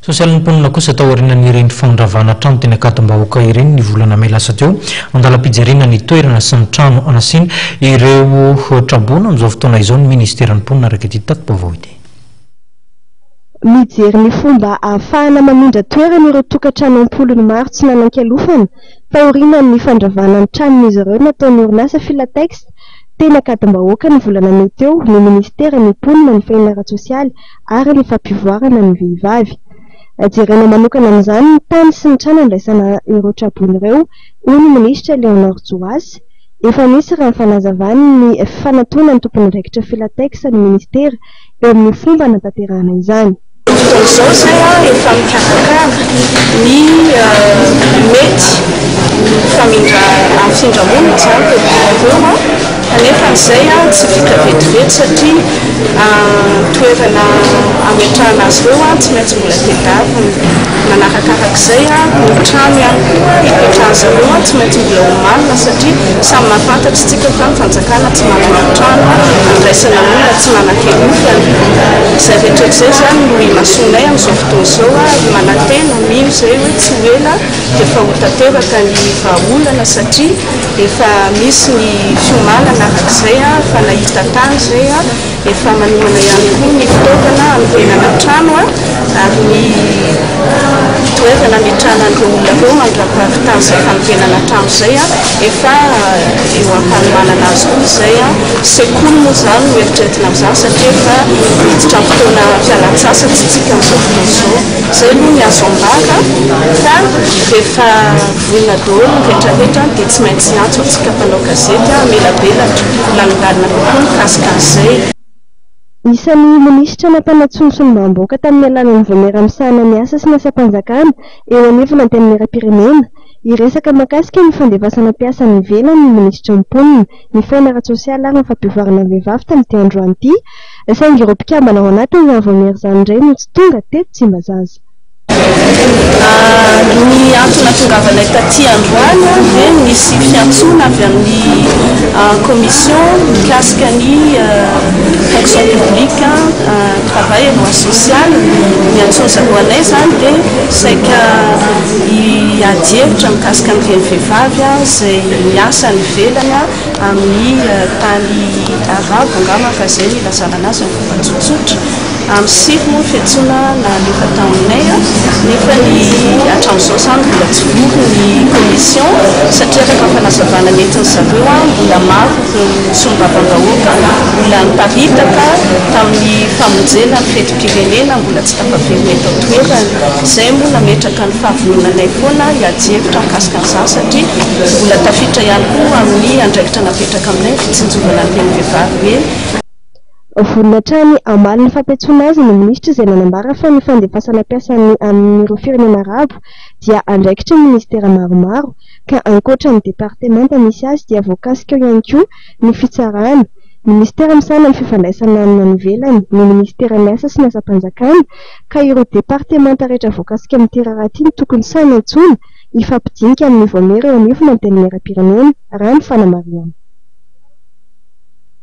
Sosialin'ny mponina kosa tao aorianan'ireny fanondravana trano teny Ankadimbahoaka ireny ny volana mey lasa teo. Andalam-pijerena ny toerana sy ny trano anasiana ireo traboina amin'izao fotoana izao ny minisiteran'ny mponina araka ity tati-baovao ity. Mijery ny fomba ahafahana mamindra toerana ireo tokantrano am-polony maro tsy nanan-kialofana taorianan'ny fandravana ny tranon'izy ireo nataon'ny orinasa Filatex teny Ankadimbahoaka ny volana mey teo ny minisiteran'ny mponina, ny fahina ara-tsosialy ary ny fampivoarana ny vehivavy. Jerena manokana amin'izany ny tany sy ny trano handraisana ireo traboina ireo, hoy ny minisitra Léonore Joasy. Efa nisy raha ny fanazavany ny fanatona ny tompon'andraikitra Filatex ny minisitera eo amin'ny fomba hanatanterahana izany. Fotoan'izao izay efa mikarakara ny mety ho famindra-hamfindramonina izany teto Imerina. Kanefa izay tsy vita vetivety satria toerana ametrahana azy ireo tsy maintsy mbola tedavina. Manarakarak'izay, ny trano ihany koa ipetrahan'izy ireo tsy maintsy mbola omanina satria samy mahafantatra isika fa ny fanjakana tsy manana trano handraisana olona tsy manan-kenofana. Izay rehetra izay izany no imasoanay amin'izao fotoana izao ary manantena, mino izay hoe tsy ho ela dia efa ho tanteraka ny vahaolana satria Efa misy ny fiomanana araka izay fa nahita tany izay, efa manomana ihany koa ny fitaovana hanorenana trano ary ny toerana ametrahan'ireo olona ireo mandra-pahavitany izay fanorenana trano izay efa eo am-panomanana azy koa izay. Sekoly moa izany no eritreretina amin'izany satria efa miditra amin'ny fotoana fialan-tsasatra isika amin'izao fotoana izao. Izay aloha ny azo ambara fa rehefa. Olona daholo ny retraretra dia tsy maintsy hiantso antsika mpanao gazety hamelabelatra lalindaligna kokoa mikasika an'izay. Isan'ny minisitra nampanantsoa ny solombavambahoaka tamin'ny alalan'ny vaomiera misahana ny asa sy ny asam-panjakana eo anivon'ny Antenimierampirenena, hiresaka mahakasika ny fandefasana mpiasa any ivelany ny minisitry ny Mponina, ny fiainana ara-tsosialy ary ny fampivoarana ny vehivavy tamin'ity androany ity, saingy ireo mpikambana ao anatin'izany vaomiera izany indray no tsy tonga teto Tsimbazaza. Ary ny antso nahatongavanay taty androany dia nisy fiantsoana avy amin'ny commission mikasika ny fonction publique, travail et droit social, niantsoa zareo anay izany dia saika hiady hevitra mikasika an'ireny vehivavy izay miasa any ivelany amin'ny tany arabo angamba fa izay no ilazana an'azy amin'ny fomba tsotsotra. Andro sivy moa ny fiantsoana nalefa tao aminay nefa ny hatramin'izao izany mbola tsy vory ny commission satria araka ny fanazavana nentin'ny zareo mbola maro ireo solombavambahoaka mbola niparitaka tamin'ny famonjena ny fetim-pirenena mbola tsy tafaverina eto an-toerana. Izay moa nametraka ny fahavononanay foana hiady hevitra mikasika an'izany satria mbola tafiditra ihany koa amin'ny andraikitra napetraka aminay ny fitsinjovana ny tenivehivavy hoe Vonona hatrany hamaly ny fampiantsoana azy ny minisitra izay nanambara fa ny fandefasana mpiasa any amin'ireo firenena arabo dia andraikitry ny minisitera maromaro ka ankoatra ny departemanta misy azy dia voakasika ao ihany koa ny fitsarana, minisitera misahana ny fifandraisana amin'ny any ivelany, ny minisiteran'ny asa sy ny asam-panjakana ka ireo departemanta rehetra voakasika amin'ity raharaha ity no tokony sahy nantsoina hifampidinika amin'ny vaomiera eo anivon'ny antenimieram-pirenena, raha ny fanamarihana.